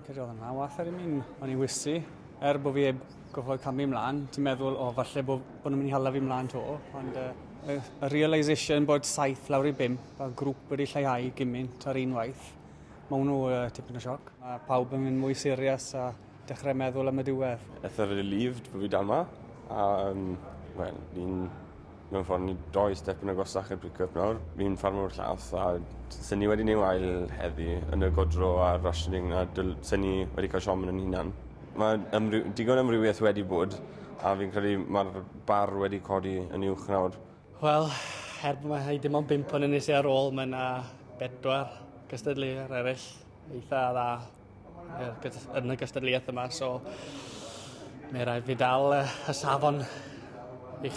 Cyrraedd oedd yna wath ar i mi, o'n i'n wysi. Er bod fi heb gofod camu ymlaen, ti'n meddwl, o, falle bod, bod nhw'n mynd i hala fi ymlaen to. Ond uh, y, y realisation bod saith lawr i bum, a grŵp wedi lleihau gymaint ar un waith, mae hwnnw uh, tipyn o sioc. Mae pawb yn mynd mwy serius a Dechrau meddwl am y diwedd. Eitha relieved bod fi dal ma. A, um, wel, fi'n mewn ffordd ni doi step yn agosach i'r pick-up nawr. Fi'n ffarm o'r llawth a sy'n ni wedi neu wael heddi yn y godro a'r rationing a sy'n ni wedi cael siom yn yn hunan. Mae ymry digon amrywiaeth wedi bod a fi'n credu mae'r bar wedi codi yn uwch nawr. Wel, er bod mae dim ond bimp yn yn ar ôl, mae yna bedwar cystadleuwr eraill eitha dda. yn y gystadleuaeth yma, so mae rhaid fi dal y safon i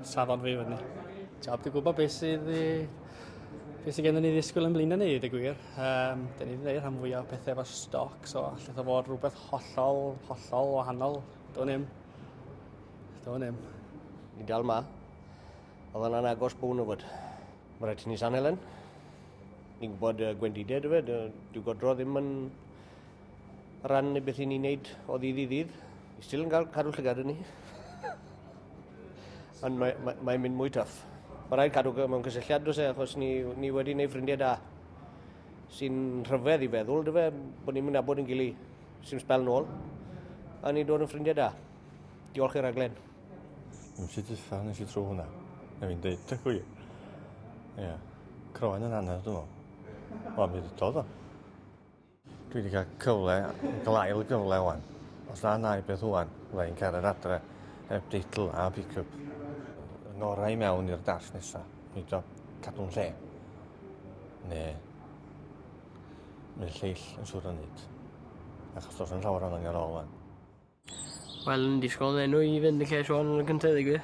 safon fi fyny. Jab, dwi'n gwybod beth sydd i beth sydd gennym ni ddisgwyl yn blin yn ei ddeg gwir. Um, da ni wedi gwneud rhan fwyaf o pethau efo stoc, so allai ddo fod rhywbeth hollol, hollol wahanol. Do'n im. Do'n im. Ni dal ma. Oedd yna'n agos bwn o fod. Mae'n rhaid i ni sanu lan. Ni'n gwybod uh, gwendidau, dwi fe, dyw godro ddim yn rhan i beth i ni'n neud o ddydd i ddydd. Ni still yn cael cadw llygad yn ni. Ond mae'n mae, mae mynd mwy tuff. Mae'n rhaid cadw mewn cysylltiad dros e, achos ni, ni wedi gwneud ffrindiau da. Sy'n rhyfedd i feddwl, dyfe, bod ni'n mynd abod yn gili sy'n spel nôl. A ni'n dod yn ffrindiau da. Diolch i'r rhaglen. Yn Misie Diffa nes i tro hwnna. Na fi'n deud, ta gwi. Ie. Croen yn anner, dwi'n meddwl. O, mi ddodd o. Dwi wedi cael cyfle, glael gyfle o'n. Os na na i beth o'n, fydda i'n cael yr adre heb deitl a pick-up. Yn orau mewn i'r dash nesaf. Mi do cadw'n lle. Ne. Mae'n lleill yn siwr o nid. Achos os yn llawer o'n angen ôl o'n. Wel yn disgwl enw i fynd yn lle Siôn yn y cynta deu gwir.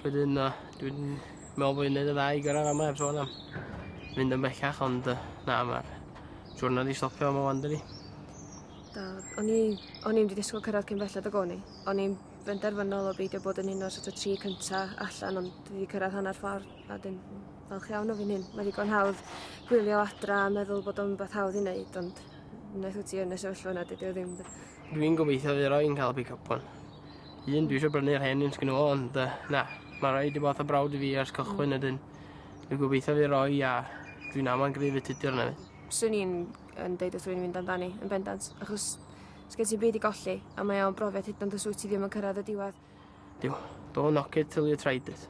Wedyn na, dwi'n me'wl bo' fi'n neud y ddau i gyrradd am heb sôn am mynd yn bellach ond yy na ma'r siwrna 'di stopio yma ŵan dydi? Da. O'n i o'n i'm 'di disgwl cyrradd cyn belled ag o'n i. O'n i'n benderfynol o beidio bod yn un o'r sort o tri cynta allan ond dwi 'di cyrradd hanner ffordd a dwi'n falch iawn o fi'n hyn. Mae ddigon hawdd gwylio adra a meddwl bod o'n beth hawdd i wneud ond wnaeth wyt ti yn y sefyllfa yna dydy o ddim Dwi'n gobeithio fydd rhai yn cael pick up one. Un dwi eisiau brynu'r hen un sgyn o ond uh, na, mae rhai wedi bod o brawd i fi ers cychwyn mm. ydyn. Dwi'n gobeithio fydd rhoi a dwi'n aman grif y tudur yna fi. Swn i'n yn deud wrth rwy'n mynd amdani yn bendant achos sgen ti'n byd i golli a mae o'n brofiad hyd ond os wyt ti ddim yn cyrraedd y diwedd. Diw, don't knock it till you tried it.